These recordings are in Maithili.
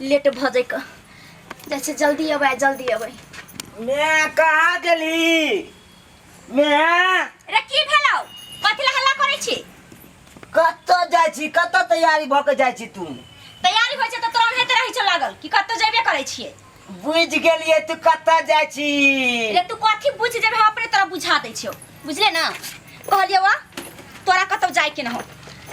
लेट भऽ जाइक जाइ छै जल्दी अबै जल्दी अबै मैं कहा गेली मैं अरे की भेलौ कथी ला हल्ला करै छी कत जाइ छी कत तैयारी भऽ के जाइ छी तू तैयारी होइ छै तऽ तोरा ओनाहिते रहै छौ लागल कि कतौ जेबे करै छियै बुझ गेलिए तू कत जाय छी ले तू कथी बुझ जेबे हम अपने तोरा बुझा दै छियो बुझले ना कहलियो वा तोरा कतौ जाय के न हो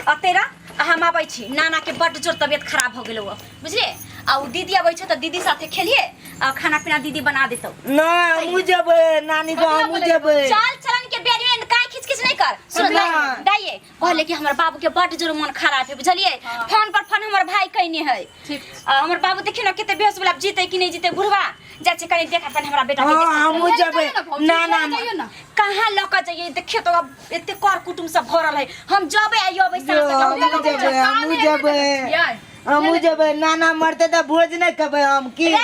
आ तेरा आ हम आबै छी नाना के बड जोर तबियत खराब हो गेलो वा बुझले आ उ दीदी आबै छै त दीदी साथे खेलिए आ खाना पीना दीदी बना देतौ ना हमू जबे नानी गाँव हमू जबे चल चलन के बेरी में काय खिचखिच नहीं कर सुन ना। दाइए कहले कि हमर बाबू के बड जोर मन खराब है बुझलिए हाँ। फोन पर फोन हमर भाई कहने है ठीक आ, हमर बाबू देखियो ना कते बेहोश वाला जीते कि नहीं जीते बुढ़वा जा छै कनी देख अपन हमरा बेटा के हाँ, कैसे हमहूँ सुतल। जबै। जाइयो भौजी, ना, ना, जाइयो, जाइयो ना कहाँ लऽ कऽ जइए देखियो तो अब एते कर कुटुम सब भरल है हम जबे आइयो अबै जो, साँझ हम तक। जबै हमहूँ जबै बियाह। हमहूँ जबै नाना मरते तऽ भोज नहि खेबै हम की रे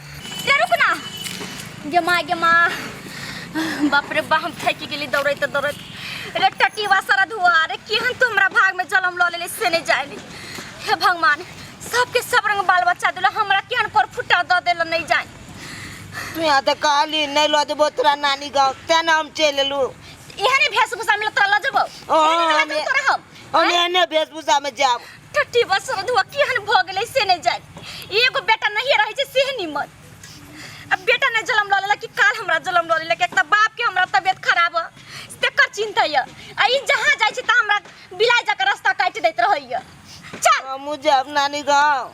रे रुक ना गे माँ गे माँ बाप रे बा हम थकि गेली दौड़ैत दौड़ैत रे टटीवा सारा धुआ रे केहन तू हमरा भाग में जलम लऽ लेले से नहीं जाए हे भगवान सबके सब रंग बाल बच्चा दिला हमरा केहन कोर फुटा दऽ देला नहीं जाए तू यहाँ तो कहली नहीं लो देबो तोरा नानी गाँव तें ना हम चल एलू एहने भेष भूषा में तोरा लऽ जेबो ओ, एहने में हम- तोरा हम हम एहने वेशभूषा में जाब टट्टी बस रधुआ केहन भऽ गेलै से नहि जाय एगो बेटा नहिए रहै छै सेह निमन अब बेटा ने जलम लऽ लेलक कि काल हमरा जलम लऽ लेलक एक तऽ बाप के हमरा तबियत खराब है तेकर चिंता है आ ई जहाँ जाइ छै तऽ हमरा बिलाइ जाकर रास्ता काटि दैत रहैया चल हम जाब नानी गाँव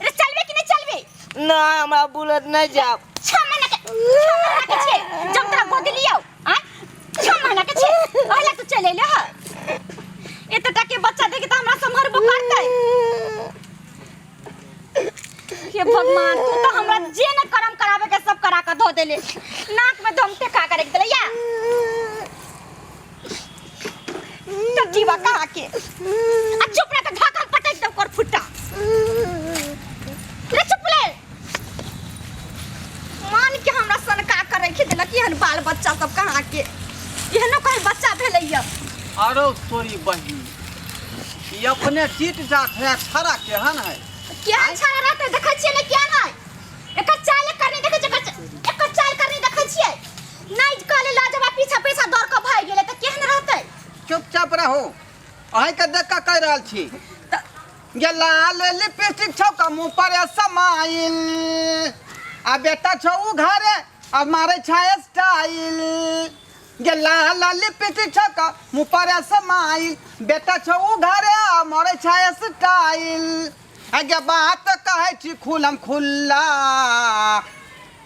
अरे चलबे कि नहीं चलबे नहीं हमरा बुलेट नहीं जाब छह महीना के छह महीना के छे जब तोरा गोदी लियो आ छह महीना के छे ओहला तू चले ले ह एतटा के बच्चा देखे त हमरा संभरबो करतै हे भगवान तू तो हमरा जे न करम करावे के सब करा के धो देले नाक में धमते का करे के देले या टट्टी बा कहा के आ चुप रह के ढाकल पटक दे ओकर फुट्टा रे चुप ले मान के हमरा सन का करे के देलक एहन बाल बच्चा सब कहा के एहनो कहीं बच्चा भेलैया आरो तोरी बहिन ई अपने जीत जात है छड़ा केहन है क्या छाड़ा रहते देखै छियै ने क्या नै एकर चाल करनी देखै छियै एकर चा- एकर चाल करनी देखै छियै नहीं कहले ला जब पीछा पीछा दौड़ के भाग गेले त केहन रहते चुपचाप रहो अहे के देख के कह रहल छी त ये लाल लिपस्टिक छौ का मुंह पर ये समाइल आ बेटा छौ उ घरे आ मारे छाय स्टाइल ये लाल लिपस्टिक छौ का मुंह पर ये समाइल बेटा छौ उ घरे आ मारे छाय स्टाइल आ ये बात कहे छी खुलम खुल्ला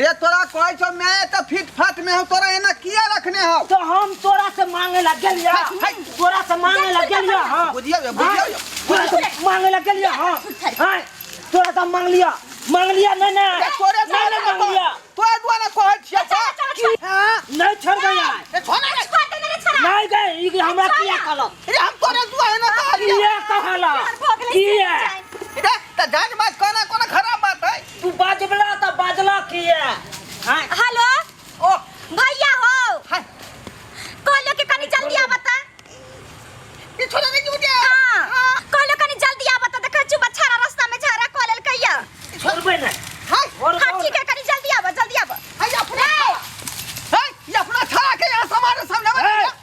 रे तोरा कहै छौ मैं त फिट फाट में हूं तोरा एना किया रखने हौ तो हम तोरा से मांगे लग गेलिया तोरा से मांगे लग गेलिया हां बुझिया बे, बुझिया बे। तोरा से मांगे लग गेलिया हां हां तोरा से मांग लिया मांग लिया नहीं ना ए, तोरे नहीं द्वारा ना मांग कहै- लिया तोरे द्वारा कहै छियै चल, चल, चल, चल। हां नहीं छोड़ दे यार ए, छोड़ ना, छोड़ दे मेरे छोरा। नहीं गए ई के हमरा किया कहलक रे हम तोरे द्वारा एना कहलियै किया कहलक किया ए, त जान बात कोना कोना खराब बात है तू बाजबला तऽ बाजला किया हाय हेलो ओ भैया हो हाय कहलो के कनी जल्दी आ बता पीछे लगे क्यों दे हां कहलो कनी जल्दी आ बता देखा चु बछारा रास्ता में झारा कॉल कहिया छोड़बे ना हाय और हां ठीक है कनी जल्दी आबो जल्दी आबो हाय अपना हाय ये अपना खा के यहां सामान सामने में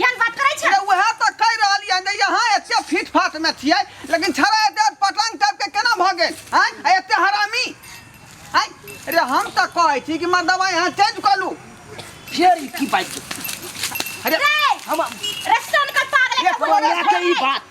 ज्ञान बात करै छै अरे वएह तऽ कहि रहलियै हन जे यहाँ एते फिट फाट मे छियै लेकिन छड़ा एते पटंग टाइप के केना भऽ गेल हैं आ एते हरामी हैं अरे हम तऽ कहै छी कि मर्दवा यहाँ चेंज कऽ लू फेर ई की बात अरे रे हम रे सोन कर पागल एक एक बार बोले के ई बात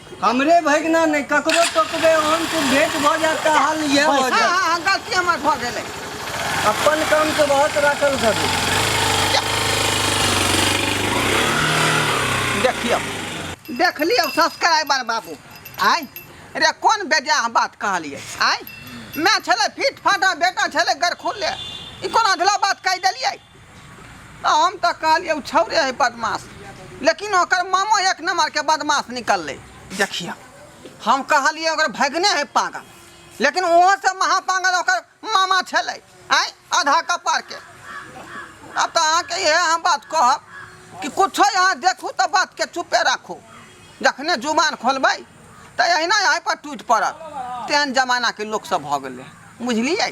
हमरे भगिना नहि ककरो टोकबै ओहन तू भेट भऽ जायत तऽ हाल इएह भऽ हाँ जायत हाँ हाँ गलती हमर भऽ गेलै अपन काम के बहुत राखल करू देखियौ देख लियौ सब्सक्राइबर बाबू आय रे कोन बेजाह बात कहलियै आय माय छलै फिट फाटा बेटा छलै गरखुल्ले ई कोन अधला बात कहि देलियै हम तऽ कहलियै ओ छौरे है बदमाश लेकिन ओकर मामो एक नंबर के बदमाश निकललै देखिए हम कहलियै ओकर भगने है पागल लेकिन ओहो से महापागल ओकर मामा छलै आय आधा कपार के अब तऽ अहाँके इहे हम बात कहब कि कुछो यहाँ देखू तऽ बात के चुपे राखू जखने जुबान खोलबै तऽ अहिना यहाँ पर टूटि पड़त तेहन जमाना के लोक सब भऽ गेलै बुझलियै